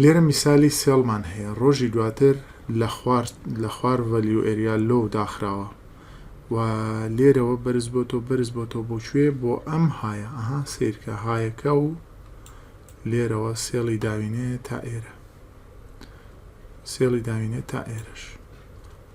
لێرە میسالی سێڵمان هەیە ڕۆژی دواتر لە خوار لە خوار ڤەلیو ئەریا لۆ داخراوە و لێرەوە بەرز بۆ تۆ بەرز بۆ تۆ بۆ کوێ بۆ ئەم هاە ئەها سیرکە هاەکە و لێرەوە سێڵی داوینێ تا ئێرە سێڵی داوینێ تا ئێرەش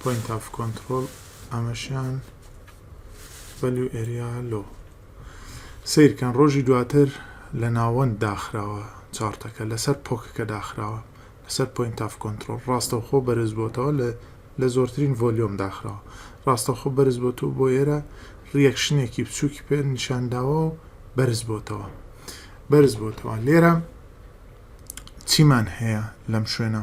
پۆینت ئاف کۆنترۆڵ ئەمەشیان بەلو ئەریا لۆ سیرکەن ڕۆژی دواتر لە ناوەند داخراوە چارتەکە لەسەر پۆکەکە داخراوە لەسەر پۆینت ئاف کۆنترۆل ڕاستەوخۆ بەرز بۆتەوە لە لە زۆرترین ڤۆلیۆم داخراوە ڕاستەخۆ بەرز بۆتەوە بۆ ئێرە ڕیەکشنێکی بچووکی پێ نیشانداوە و بەرز بۆتەوە بەرز بۆتەوە لێرە چیمان هەیە لەم شوێنە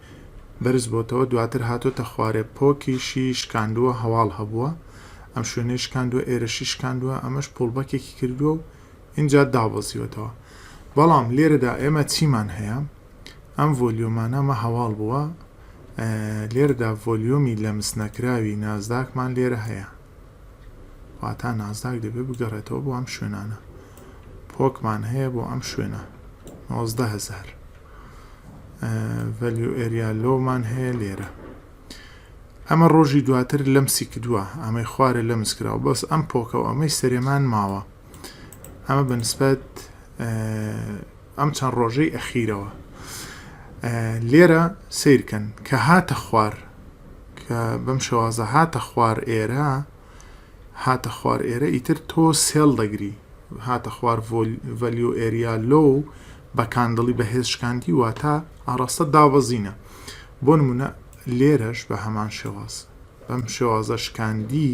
بەرزبۆتەوە دواتر هاتۆتە خوارێ پۆکیشی شکاندووە هەواڵ هەبووە ئەم شوێنەی شکاندووە ئێرەشی شکاندووە ئەمەش پۆڵبەکێکی کردووە و ئینجا دابەزیوەتەوە بەڵام لێرەدا ئێمە چیمان هەیە ئەم ڤۆلیۆمانە مە هەواڵ بووە لێرەدا ڤۆلیۆمی لەمس نەکراوی نازداکمان لێرە هەیە واتا نازداک دەبێت بگەڕێتەوە بۆ ئەم شوێنانە پۆکمان هەیە بۆ ئەم شوێنە هزار ڤەلیو ئێریا لۆمان هەیە لێرە ئەمە ڕۆژی دواتر لەم سیکدووە ئەمەی خوارە لە مسکراوە بەس ئەم پۆکە و ئەمەی سەرێمان ماوە ئەمە بەنسبەت ئەم چەند ڕۆژەی ئەخیرەوە لێرە سیرکەن کە هاتە خوار کە بەم شێوازە هاتە خوار ئێرە هاتە خوار ئێرە ئیتر تۆ سێڵ دەگری هاتە خوار ڤەلیو ئێریا لۆ بە کاندڵی بەهێز شکاندی واتە ئاڕاستە دابەزینە بۆ نمونە لێرەش بە هەمان شێواز بەم شێوازە شکاندی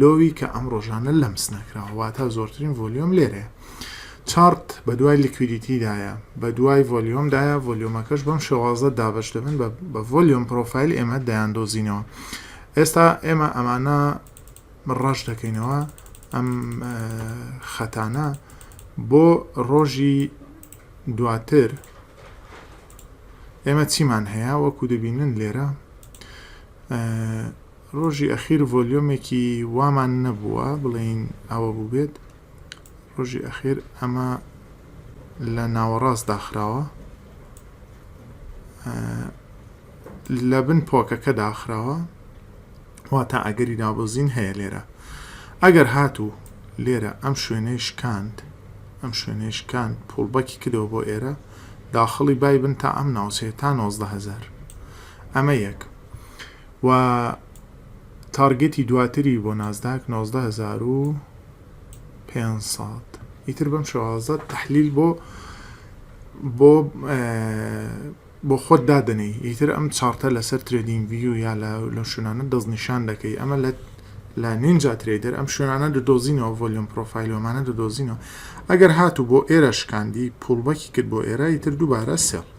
لۆوی کە ئەم ڕۆژانە لەمس نەکراوە واتە زۆرترین ڤۆلیۆم لێرەیە چارت بە دوای لیکویدیتیدایە بە دوای ڤۆلیۆمدایە ڤۆلیۆمەکەش بەم شێوازە دابش دەبن بە ڤۆلیۆم پرۆفایل ئێمە دەیان دۆزینەوە ئێستا ئێمە ئەمانە ڕەش دەکەینەوە ئەم خەتانە بۆ ڕۆژی دواتر ئێمە چیمان هەیە وەکو دەبینن لێرە ڕۆژی ئەخیر ڤۆلیۆمێکی وامان نەبووە بڵێین ئەوە بووبێت ڕۆژی ئەخیر ئەمە لە ناوەڕاست داخراوە لە بن پۆکەکە داخراوە واتە ئەگەری دابۆزین هەیە لێرە ئەگەر هاتوو لێرە ئەم شوێنەی شکاند ئەم شوێنەی شکاند پوڵبەکی کردەوە بۆ ئێرە داخڵی بای بن تا ئەم ناوچەیە تا 90هزار ئەمە یەک و تارگێتی دواتری بۆ نازداک نۆزدە هەزار و پێنج سەد ئیتر بەم شێوازە تەحلیل بۆ بۆ بۆ خۆت دادەنێی ئیتر ئەم چارتە لەسەر ترێدین ویو یا لە لە شوێنانە دەستنیشان دەکەی ئەمە لە لە نینجا ترێدەر ئەم شوێنانە دۆزینەوە ڤۆلیۆم پرۆفایلۆمانە دۆزینەوە ئەگەر هاتوو بۆ ئێرە شکاندی پوڵبەکی کرد بۆ ئێرە ئیتر دووبارە سێڵ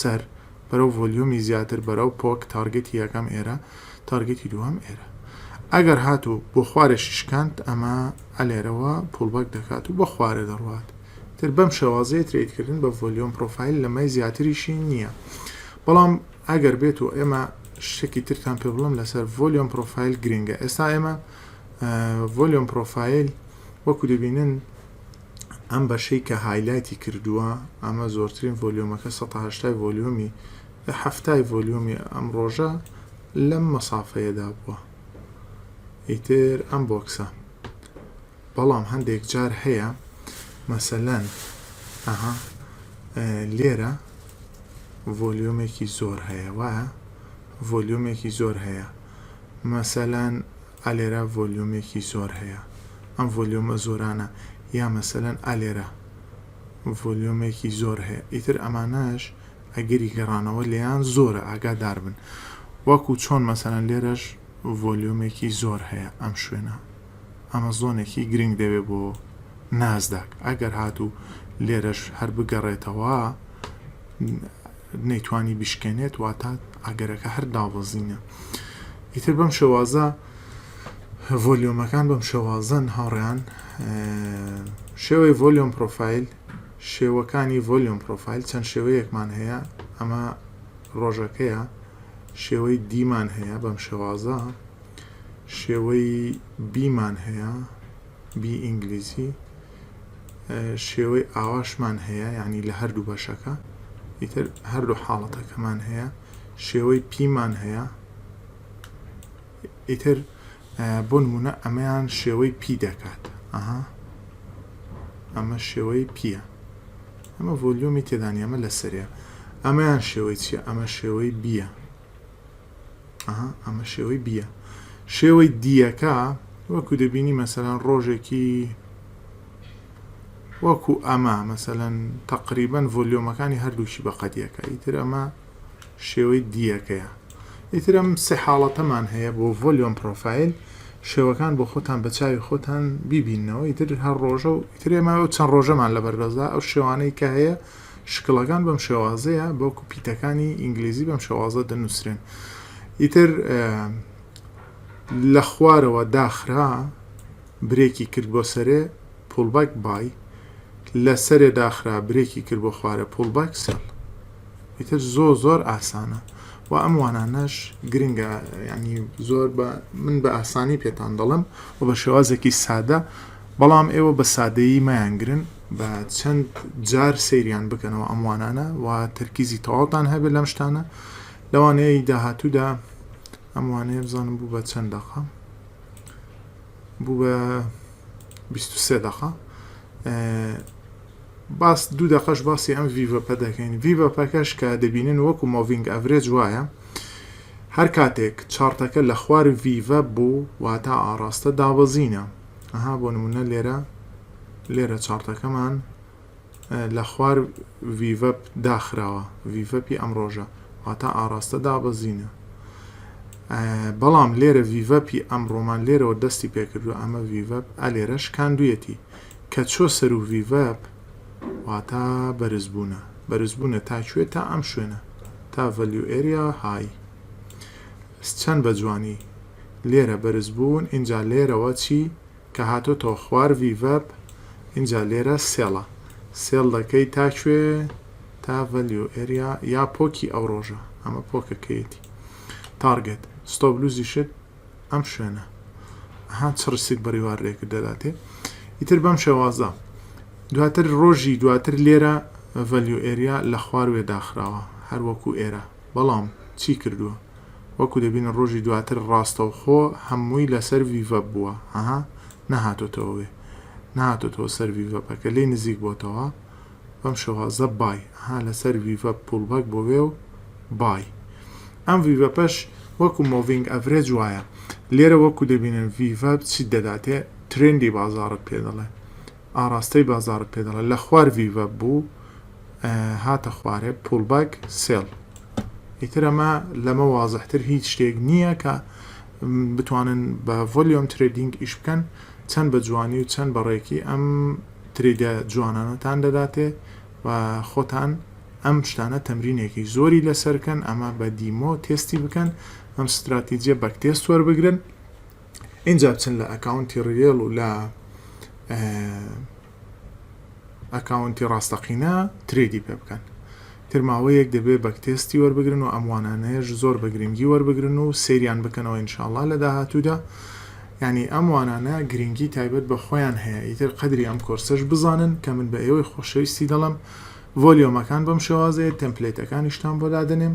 سەر بەرەو ڤۆلیومی زیاتر بەرەو پۆک تارگێتی یەکەم ئێرە تارگێتی دووەم ئێرە ئەگەر هات و بۆ خوارێشی شکاند ئەمە ئەلێرەوە پوڵبەک دەکات و بە خوارێ دەڕوات تر بەم شێوازەیە ترێدکردن بە ڤۆلیۆم پرۆفایل لەمەی زیاتریشی نییە بەڵام ئەگەر بێت و ئێمە شتێکی ترتان پێ بڵم لەسەر ڤۆلیۆم پرۆفایل گرنگە ئێستا ئێمە ڤۆلیۆم پرۆفایل وەکو دەبینن ئەم بەشەی کە هایلایتی کردووە ئەمە زۆرترین ڤۆلیۆمەکە سەد و هەشتا ڤۆلیۆمی حەفتای ڤۆلیۆمی ئەم ڕۆژە لەم مەسافەیەدا بووە ئیتر ئەم بۆکسە بەڵام هەندێک جار هەیە مەسەلەن ئەها لێرە ڤۆلیۆمێکی زۆر هەیە وایە ڤۆلیۆمێکی زۆر هەیە مەسەلەن ئا لێرە ڤۆلیۆمێکی زۆر هەیە ئەم ڤۆلیۆمە زۆرانە یا مەسەلەن ئا لێرە ڤۆلیۆمێکی زۆر هەیە ئیتر ئەمانەش ئەگەری گەڕانەوە لێیان زۆرە ئاگادار بن وەکو چۆن مەسەلەن لێرەش ڤۆلیۆمێکی زۆر هەیە ئەم شوێنە ئەمە زۆنێکی گرنگ دەبێ بۆ نازداک ئەگەر هاتوو لێرەش هەر بگەڕێتەوە نەیتوانی بشکێنێت واتە ئەگەرەکە هەر دابەزینە ئیتر بەم شێوازە ڤۆلیۆمەکان بەم شێوازن هاوڕیان شێوەی ڤۆلیۆم پرۆفایل شێوەکانی ڤۆلیۆم پرۆفایل چەند شێوەیەکمان هەیە ئەمە ڕۆژەکەیە شێوەی دیمان هەیە بەم شێوازە شێوەی بیمان هەیە بی ئینگلیزی شێوەی ئاواشمان هەیە یعنی لە هەردوو بەشەکە ئیتر هەردوو حاڵەتەکەمان هەیە شێوەی پیمان هەیە ئیتر بۆ نمونە ئەمەیان شێوەی پی دەکات ئەها ئەمە شێوەی پیە ئەمە ڤۆلیۆمی تێدانی ئەمە لەسەرە ئەمەیان شێوەی چیە ئەمە شێوەی بیە ئەمە شێوەی بیە شێوەی دیەکە وەکو دەبینی مەسەلەن ڕۆژێکی وەکو ئەمە مەسەلەن تقریبن ڤۆلیۆمەکانی هەردووشی بە قەدیەکە ئیتر ئەمە شێوەی دیەکەیە ئیتر ئەم سێ حاڵەتەمان هەیە بۆ ڤۆلیۆم پرۆفایل شێوەکان بۆ خۆتان بە چاوی خۆتان بیبینەوە ئیتر هەر ڕۆژە و ئیترێمە و چەند ڕۆژەمان لە بەردەستدا ئەو شێوانەی کە هەیە شکڵەکان بەم شێوازەیە بەڵکو پیتەکانی ئینگلیزی بەم شێوازە دەنووسرێن ئیتر لە خوارەوە داخرا برێکی کرد بۆ سەرێ پولبک بای لە سەرێ داخرا برێکی کرد بۆ خوارە پولبک سەڵ ئیتر زۆ زۆر ئاسانە و ئەم وانانەش گرنگە ینی زۆر بە من بە ئاسانی پێتان دەڵم و بە شێوازێکی سادە بەڵام ئێوە بە سادەیی مایانگرن با چەند جار سەیریان بکەنەوە ئەم وانانە و تەرکیزی تەواوتان هەبێت لەم شتانە لەوانەیە داهاتوودا ئەم وانەیە بزانم بوو بە چەند دەقە بوو بە 23 دقە باس دوو دەقەش باسی ئەم ڤیڤەپە دەکەین ڤیڤەپەکەش کە دەبینن وەکو مۆڤنگ ئەڤرێج وایە هەر کاتێک چارتەکە لە خوار ڤیڤە بوو واتا ئاراستە دابەزینە ئەها بۆ نمونە لێرە لێرە چارتەکەمان لە خوار ڤیڤەپ داخراوە ڤیڤەپی ئەم ڕۆژە واتا ئاراستە دابەزینە بەڵام لێرە ڤیڤەپی ئەم ڕۆمان لێرەوە دەستی پێکردو ئەمە ڤیڤەپ ئەلێرەش کاندویەتی کە چۆ سەر و ڤیڤەپ واتا بەرزبوونە بەرزبوونە تا کوێ تا ئەم شوێنە تا ڤەلیو ئێریا های چەند بە جوانی لێرە بەرز بوون ئینجا لێرەوە چی کە هاتۆتەوە خوار vverb ئینجا لێرە سێڵە سێڵ دەکەی تا کوێ تا value area یا پۆکی ئەو ڕۆژە ئەمە پۆکەکەیەتی تارگێت ستۆپ لوزی شت ئەم شوێنە ها چڕسیت بەڕیوار رێکرد دەداتێ ئیتر بەم شێوازە دواتر ڕۆژی دواتر لێرە value area لە خوار وێ داخراوە هەروەکو ئێرە بەڵام چی کردووە وەکو دەبینن ڕۆژی دواتر ڕاستەوخۆ هەمووی لەسەر ڤیڤەپ بووە هەها نەهاتۆتەوە وێ نەهاتۆتەوە سەر ڤیڤەپ ئەکە لێی نزیک بۆتەوە بەم شێوازە بای ها لەسەر ڤیڤەپ پوڵبەک بۆ وێ و بای ئەم ڤیڤەپەش وەکو مۆڤینگ ئەڤرێج وایە لێرە وەکو دەبینن ڤیڤەپ چیت دەداتێ ترێندی بازاڕت پێ دەڵێ ئاڕاستەی بازاڕت پێ دەڵێت لە خوار ڤیڤە بوو هاتە خوارێ پوڵباک سێڵ ئیتر ئەمە لەمە وازحتر هیچ شتێک نییە کە بتوانن بە ڤۆلیۆم ترێدینگ ئیش بکەن چەند بە جوانی و چەند بەڕێکی ئەم تریدە جوانانەتان دەداتێ و خۆتان ئەم شتانە تەمرینێکی زۆری لەسەرکەن ئەمە بە دیمۆ تێستی بکەن ئەم ستراتیجیە بەک تێست وەربگرن ئینجا بچن لە ئەکاونتی ڕیێڵ و لە ئەکاونتی ڕاستەقینە ترێدی پێ بکەن ترماوەیەک دەبێ بەک تێستی وەربگرن و ئەموانانەیەش زۆر بە گرنگی وەربگرن و سریان بکەنەوە انشاءله لە داهاتوودا ینی ئەموانانە گرنگی تایبەت بە خۆیان هەیە ئیتر قدری ئەم کۆرسەش بزانن کە من بە ئێوەی خۆشەویستی دەڵم ڤۆلیۆمەکان بەم شێوازەیە تەمپلێتەکانیشتان بۆ دادەنێم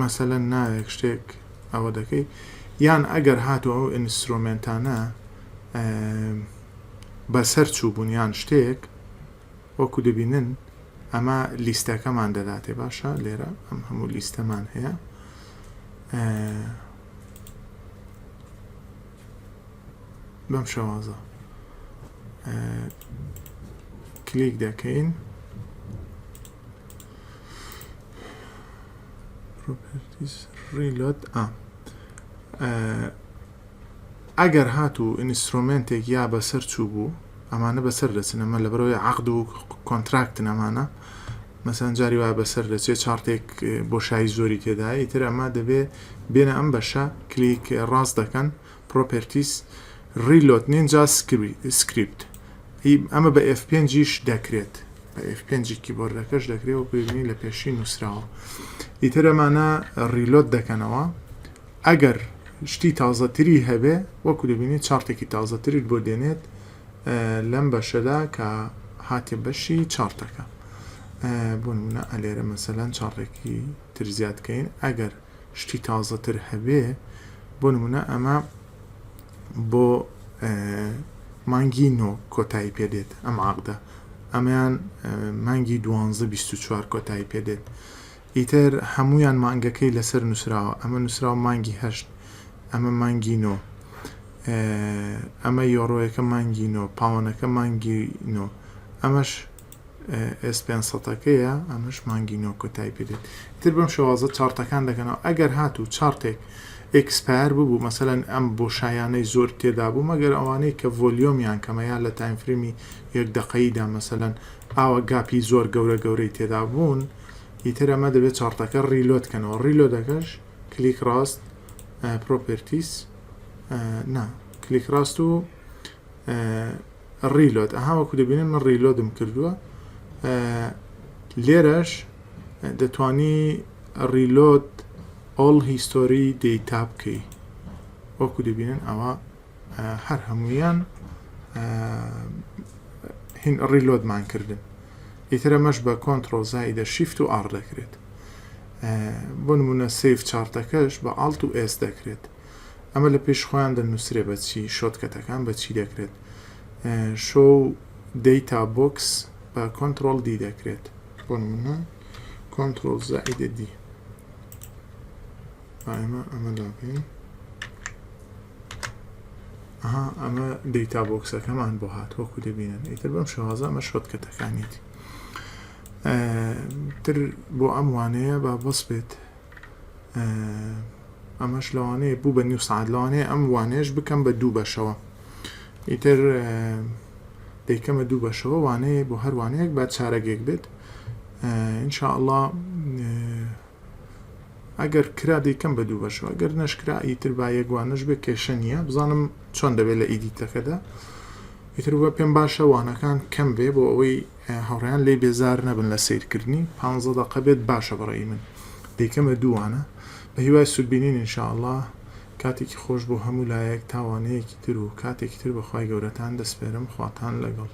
مەسەلەن ناوێک شتێک ئەوە دەکەی یان ئەگەر هاتو ئەو ئینسترۆمنتانە بەسەر چوو بوونیان شتێک وەکو دەبینن ئەمە لیستەکەمان دەداتێ باشە لێرە ئەم هەموو لیستەمان هەیە بەم شەوازە کلیک دەکەین ئەگەر هات و ئینیسرۆمنتێک یا بەسەر چوو بوو ئەمانە بەسەر دەچن ئەمە لە بەرەوەی عقد و کۆنتراکت نەمانە مەسەن جاری وا بەسەر دەچێت چارتێک بۆشایی زۆری تێدایە ئیتر ئەمە دەبێت بێنە ئەم بەشە کلیک ڕاست دەکەن پرۆپێرتیس ریلۆت نین جا سکریپت ی ئەمە بە ئێف پێنجیش دەکرێت بە ئێف پێنجی کیبۆردەکەش دەکرێت وەکو ببینی لە پێشی نووسراوە ئیتر ئەمانە ریلۆت دەکەنەوە ئەگەر شتی تازەتری هەبێ وەکو دەبینی چارتێکی تازەتریت بۆ دێنێت لەم بەشەدا کە هاتێ بەشی چارتەکە بۆ نمونە ئەلێرە مەسەلەن چاڕێکی تر زیادکەین ئەگەر شتی تازەتر هەبێ بۆ نمونە ئەمە بۆ مانگی نۆ کۆتایی پێدێت ئەم عقدە ئەمەیان مانگی دوانزە 24 کۆتایی پێدێت ئیتر هەمویان مانگەکەی لەسەر نووسراوە ئەمە نووسراو مانگی هەشت ئەمە مانگی نۆ ئەمە یۆڕۆیەکە مانگی نۆ پاوەنەکە مانگی نۆ ئەمەش ئێس پێنج سەدەکەیە ئەمەش مانگی نۆ کۆتایی پێدێت ئیتر بەم شێوازە چارتەکان دەکەنەوە ئەگەر هاتوو چارتێک ئێکسپایر ببوو مەسەلەن ئەم بۆ شایانەی زۆر تێدا بوو مەگەر ئەوانەی کە ڤۆلیۆمیان کەمە یان لە تایمفرێمی یەک دەقەییدا مەسەلەن ئاوە گاپی زۆر گەورە گەورەی تێدا بوون ئیتر ئەمە دەبێت چارتەکە ڕیلۆت کەنەوە ڕیلۆدەکەش کلیک ڕاست پرۆپرتیس نا کلیک ڕاست و ڕیلۆد ئەها وەکو دەبینن من ڕیلۆدم کردووە لێرەش دەتانی ڕیلۆد ئۆڵ هیستۆری دەیتا بکەی وەکو دەبینن ئەوە هەر هەمویان هین ڕیلۆدمان کردن ئیترە مەش بە کۆنتترۆل زایدە شیفت و ئار دەکرێت بۆ نمونە سیف چارتەکەش بە ئاڵت و ئێس دەکرێت ئەمە لە پێش خۆیان دەنوسرێ بە چی شۆتکەتەکان بە چی دەکرێت شۆ دەیتا بۆکس بە کۆنتترۆل دی دەکرێت بۆ منە کۆنتترۆل زائیدە دی ئەمە ئەمە لاکەین ئەها ئەمە دەیتا بۆکسەکەمان بۆ هات وەکو دەبینن ئیتر بەم شوازەمە شۆتکەتەکانیت تر بۆ ئەم وانەیە با بەس بێت ئەمەش لەوانەیە بوو بە نیو سعات لەوانەیە ئەم وانەیەش بکەم بە دوو بەشەوە ئیتر دەیکەمە دوو بەشەوە وانەیە بۆ هەروانەیەک بە چارەگێک بێت انشاءله ئەگەر کرا دەیکەم بە دوو بەشەوە گەر نەشکرا ئیتر با یەکوانش بێ کێشە نییە بزانم چۆن دەبێت لە ئیدیتەکەدا ئیتر بە پێم باشە وانەکان کەم بێ بۆ ئەوەی هاوڕێیان لێی بێزار نەبن لە سەیرکردنی پانزە دەقە بێت باشە بەڕەئی من دەیکەمە دووانە بە هیوای سودبینین ان شاء اللە کاتێکی خۆش بۆ هەموو لایەک تا وانەیەکی تر و کاتێکی تر بە خوای گەورەتان دەسپێرم خواتان لەگەڵ.